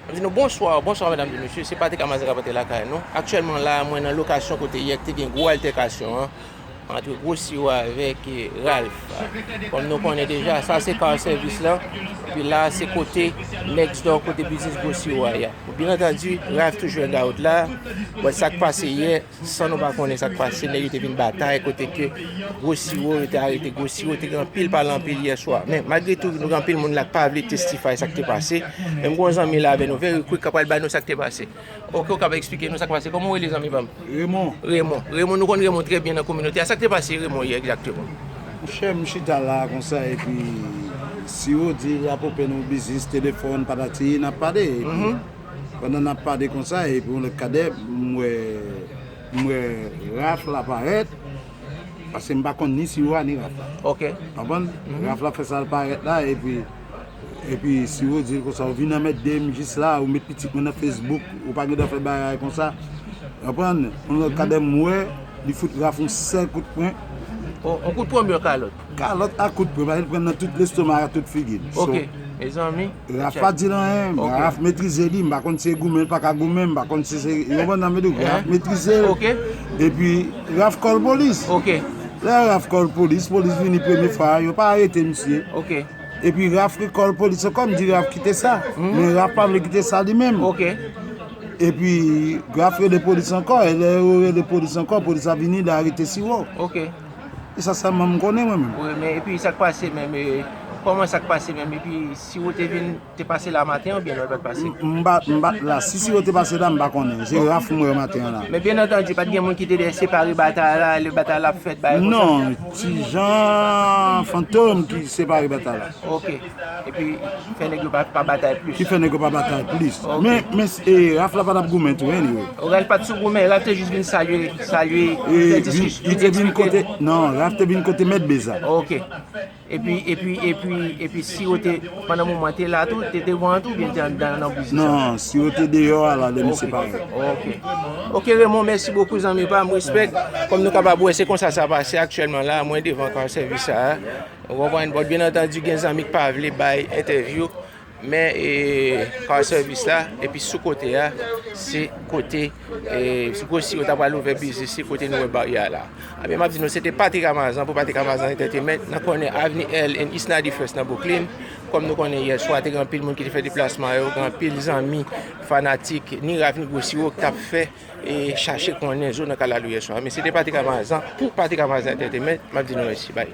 Li di nou, Bonsoir, bonsoir mesdames et messieurs, se Patrick Amazan k ap antre lakay nou. Aktyèlman la a, mwen nan lokasyon kote yè te gen gwo altèkasyon an antre gwo siwo avèk Ralph. Kòm nou konnen deja, sa se car service lan, epi la a se kote next door kote biznis gwo siwo a ye. Byen antandi, Ralph toujou hangout la a, but sa k pase yè, San nou pa konnen sak pase nèg yo te vin batay kote ke gwo siwo yo te arete gwo siwo te gen anpil pale anpil yè swa men malgre tou nou gen anpil moun la k pa vle testify sak te pase men m gen yon zanmi la avè nou very quick ka pral bay nou sak te pase ok ou kab esplike nou sak pase kòman ou rele zanmi pam Raymond Raymond Raymond nou konn Raymond trè byen nan kominote a sak te pase Raymond yè egzakteman. Monchè m chita la konsa epi siwo di rapope nou biznis telefòn patati nan pale epi. pandan nap pade konsa epi yon lòt kadè m wè m wè Raph la parèt paske m pa konn ni Siro a ni Raph la ok konprann Raph la fè sal parèt la epi epi Siro di l konsa ou vin anmède m jis la ou met pitit mwen nan Facebook ou pa gentan fè bagay konsa konprann yon lòt kadè m wè li fout Raph yon sèl kout pwen yon kout pwen mè yon kalòt. Kalòt ak kout pwen paske li pran nan tout lestoma ak tout figi l. Ok mezanmi. Raf pa di l anyen. Ok. Raf metrize li. M pa konn si l goumen, l pa ka goumen. M pa konn si se yon banda m vle di. Raf metrize l. Ok. Epi Raf kòl polis. Ok. Lè Raf kòl polis, polis vini premye fwa a, yo pa arete misye. Ok. Epi Raf rekòl polis ankò, m di Raf kite sa. Men Raf pa vle kite sa li menm. Ok. Epi Raf rele polis ankò. E lè yo rele polis ankò, polis la vini, li arete Siwo. Ok. E sa sèlman m konnen mwen menm. Wi men epi sak pase menm e Koman sak pase menm epi si ou te vin te pase la maten oubyen lè ou pat pase? M pat la si siwo te pase la m pa konnen se Raph m wè maten an la. Men byen antandi pat gen moun ki te dèyè separe batay la lè batay la ap fèt bagay konsa? Non ti Jean Fantom ki separe batay la. Ok. Epi fè nèg yo pa batay plis. Ki fè nèg yo pa batay plis. Men Raph la pa tap goumen tou anyway. Raph pat sou goumen, Raph te jis vin salye, salye, fè diskisyon. Li te vin kote, nan Raph te vin kote mèt Beza. Ok. Epi, epi, epi, epi Siro te, pandan moman te la tou, te devan an tou oubyen li te anndan nan biznis la? Non, Siro te deyò a la lè misye pare. Ok. Ok Raymond, mèsi bokou zanmi pam, respect. Kòm nou kapab wè se konsa sa pase aktyèlman la, mwen devan kar sèvis sa a. Ou konprann? Bon, byen antandi gen zanmi k pa vle bay entèvyou, men car service la, epi sou kote a, se kote, se kou si yo ta pral ouvè biznis, se kote nou wè baryè a la. Ebyen, m ap di nou, se te Patrick Amazan pou Patrick Amazan Entertainment nan kònè Avni Earl and East 91st nan Bwouklin. Kòm nou konnen, yè swa te gen anpil moun ki te fè deplasman yo, gen anpil zanmi, fanatik, ni Ralph ni Gwossiwo k t ap fè e chache konnen zo nan kalalou yè swa. Men se te Patrick Amazan pou Patrick Amazan Entertainment, m ap di nou mèsi. Bay.